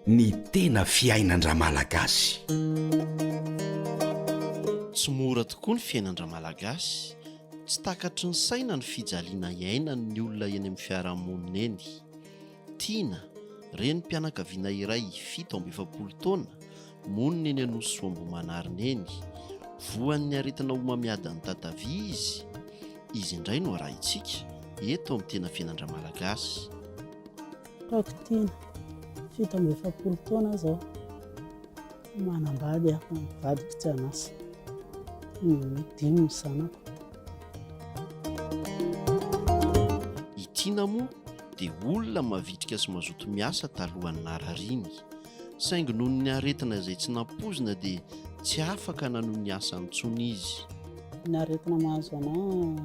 Ny tena fiainan-dRamalagasy. Tsy mora tokoa ny fiainan-dRamalagasy. Tsy takatry ny saina ny fijaliana iainan'ny olona eny amin'ny fiarahamonina eny. Tiana, renim-pianakaviana iray fito amby efapolo taona, Monina eny Anosisoambohimanarina eny. Voan'ny aretina homamiadan'ny tatavia izy. Izy indray no arahintsika, eto amin'ny Tena FiainandraMalagasy. Rakotiana, fito amby efapolo taona aho izao. Manambady aho, ny vadiko tsy an'asa. Dimy ny zanako. I Tiana moa dia olona mavitrika sy mazoto miasa talohan'ny narariany. saingy noho ny aretina izay tsy nampoizina dia tsy afaka nanohy ny asany intsony izy. Ny aretina mahazo anah,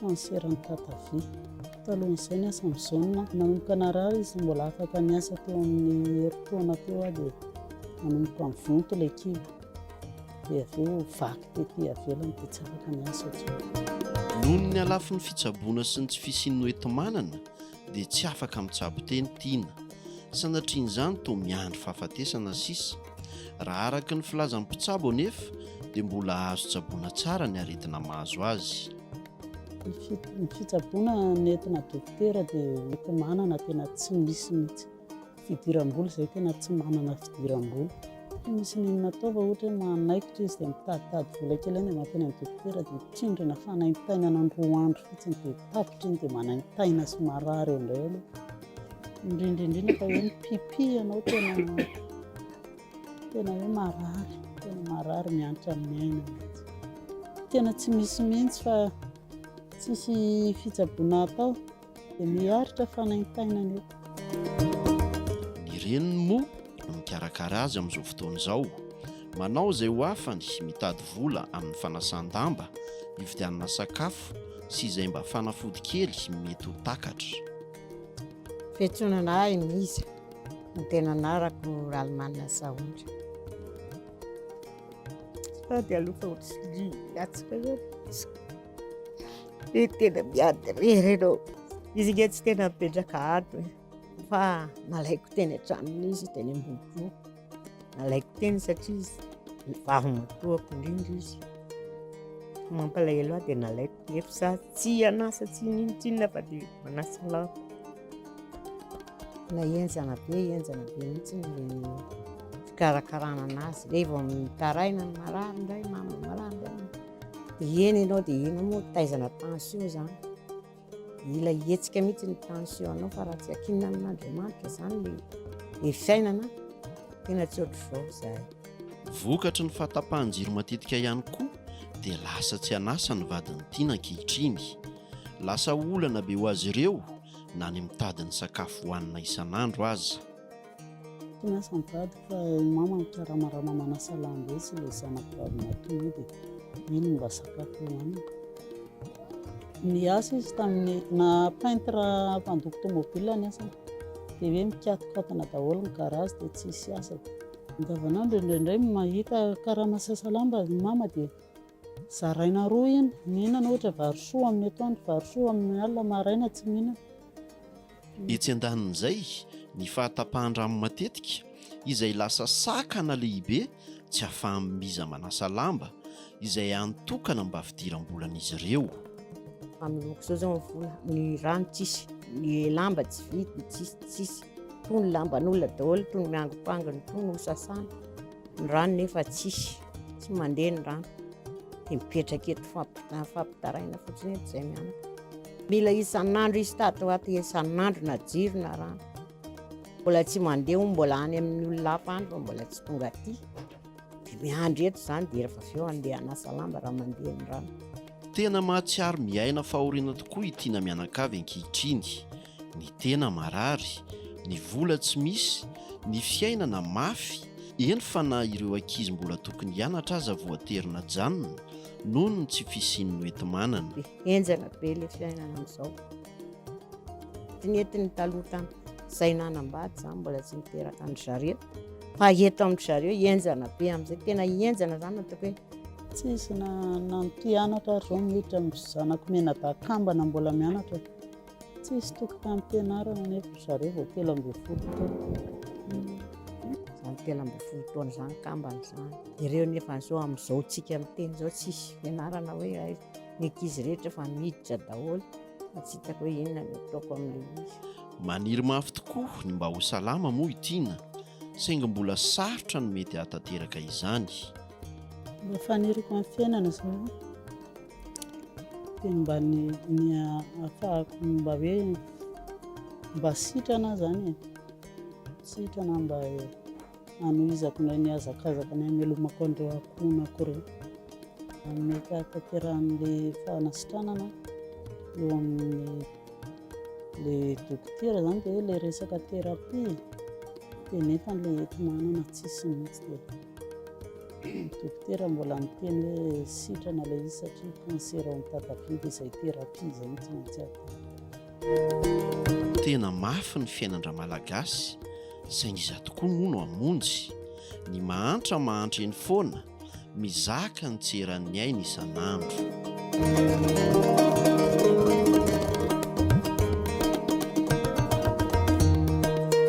kanseran'ny tatavia. Talohan'izay ny asan'i Jaona, nanomboka narary izy, mbola afaka niasa teo amin'ny herintaona teo aho dia nanomboka mivonto ilay kibo, dia avy eo vaky tety ivelany dia tsy afaka niasa intsony. Noho ny halafin'ny fitsaboana sy ny tsy fisian'ny hoenti-manana dia tsy afaka mitsabo teny Tina. Sanatrian'izany toa miandry fahafatesana sisa. Raha araka ny filazan'ny mpitsabo anefa dia mbola azo tsaboina tsara ny aretina mahazo azy. Ny fitsaboana nentina dokotera dia hotomanana tena tsy misy mihitsy. Fidiram-bola izay tena tsy manana fidiram-bola. Tsy misy n'inona atao fa ohatra hoe manaikitra izy dia mitaditady vola kely any dia mankeny amin'ny dokotera dia tsindrina fanaintainana ny roa andro fotsiny dia tapitra iny dia manaintaina sy marary eo indray aloha. indrindra indrindra fa hoe ny pipi ianao tena tena hoe marary tena marary miantra amin'ny aina tena tsy misy mihitsy fa tsisy fitsaboana atao dia miharitra fanaintainana io ireny moa no mikarakara azy amin'izao fotoana izao manao izay ho afany mitady vola amin'ny fanasan-damba hividianana sakafo sy izay mba fanafody kely mety ho takatra Fiantsonana ahy Misa, ny tena anarako Ralimanana Sahondra. Sady alofa ohatry hiatsika eo. Ny tena miady irery ianao. Izy nge tsy tena mipetraka ato e, fa nalaiko teny an-tranony izy teny Ambohipo. Nalaiko teny satria izy vavimatoako indrindra izy. Mampalahelo ahy dia nalaiko nefa za tsy hanasa tsy nintsinona fa dia manasa lahy. Na henjana be henjana be mihitsy ny fikarakarana anazy. Dia vao mitaraina ny marary indray mama marary indray. Dia eny ianao dia eny moa taizana tension izany. Ilay hetsika mihitsy ny tension anao fa raha tsy akinina amin'Andriamanitra izany ny ny fiainana tena tsy ohatr'izao izay. Vokatry ny fahatapahan-jiro matetika ihany koa dia lasa tsy an'asa ny vadin'i Tiana ankehitriny. Lasa olana be ho azy ireo na ny mitady ny sakafo hohanina isan'andro aza. Tena asa mitady ka i mama mikarama raha mama manasa lamba etsy ilay zanako vavy maty moa dia iny no mba sakafo hohanina. Niasa izy tamin'ny na peintre mpandoko tomobile ny asany dia hoe mikatokatona daholo ny garage dia tsy hisy asa. Andavanandro indraindray mahita karama sasa lamba i mama dia zaraina roa iny, mihinana ohatra vary soa amin'ny atoandro, vary soa amin'ny alina, maraina tsy mihinana. Etsy andanin'izay, ny fahatapahan-drano matetika, izay lasa sakana lehibe tsy ahafaha-miza manasa lamba, izay hany tokana mba fidiram-bolan'izy ireo. Amin'ny loko izao izao ny vola, ny rano tsisy, ny lamba tsy vidy, tsisy, tsisy. Toa ny lamban'olona daholo, toa ny miangimpangina, toa ny hosasana. Ny rano nefa tsisy, tsy mandeha ny rano. Dia mipetraka eto, fampitaraina fotsiny eto izay mianaka. Mila isan'andro izy tato ho ato, isan'andro na jiro na rano. Mbola tsy mandeha hono, mbola any amin'ny olona hafa any fa mbola tsy tonga aty. Dia miandry eto izany dia rehefa avy eo andeha hanasa lamba raha mandeha ny rano. Tena mahatsiaro miaina fahoriana tokoa i Tiana mianakavy ankehitriny. Ny tena marary, ny vola tsy misy, ny fiainana mafy, eny fa na ireo ankizy mbola tokony hianatra aza voatery najanona noho ny tsy fisian'ny hoenti-manana. Henjana be ilay fiainana amin'izao. Tsy nety ny taloha tany. Izay nanambady izany mbola tsy niteraka an-dry zareo. Fa eto amin-dry zareo henjana be amin'izay. Tena henjana izany ataoko hoe. Tsisy na nampianatra ary izao miditra ny zanako menadakambana mbola mianatra. Tsisy tokim-pampianarana nefa ry zareo vao telo ambin'ny folo taona. Izany telo ambin'ny folo taona izany kambana izany. Ireo nefa izao amin'izao tsika miteny izao tsisy fianarana hoe aiza. ny ankizy rehetra efa miditra daholo fa tsy hitako hoe inona no ataoko amin'ilay izy. Maniry mafy tokoa ny mba ho salama moa i Tina, saingy mbola sarotra ny mety hahatanteraka izany. Ilay faniriko amin'ny fiainana izao dia ny mba ny ny hahafahako ny mba hoe mba sitrana izany e, sitrana mba e. Hanohizako indray ny hazakazaka ny hamelomako an'ireo ankohonako ireo amin'ny fahatanterahan'ilay fanasitranana eo amin'ny le dokotera zany dia hoe ilay resaka thérapie dia nefa ilay eto manana tsisy mihitsy dia dokotera mbola miteny hoe sitrana ilay izy satria cancer ao amin'ny tatabe dia izay thérapie izay no tsy maintsy atao Tena mafy ny fiainan-dRamalagasy saingy iza tokoa moa no hamonjy? Ny mahantra mahantra eny foana, mizaka ny tsy eran'ny ainy isan'andro.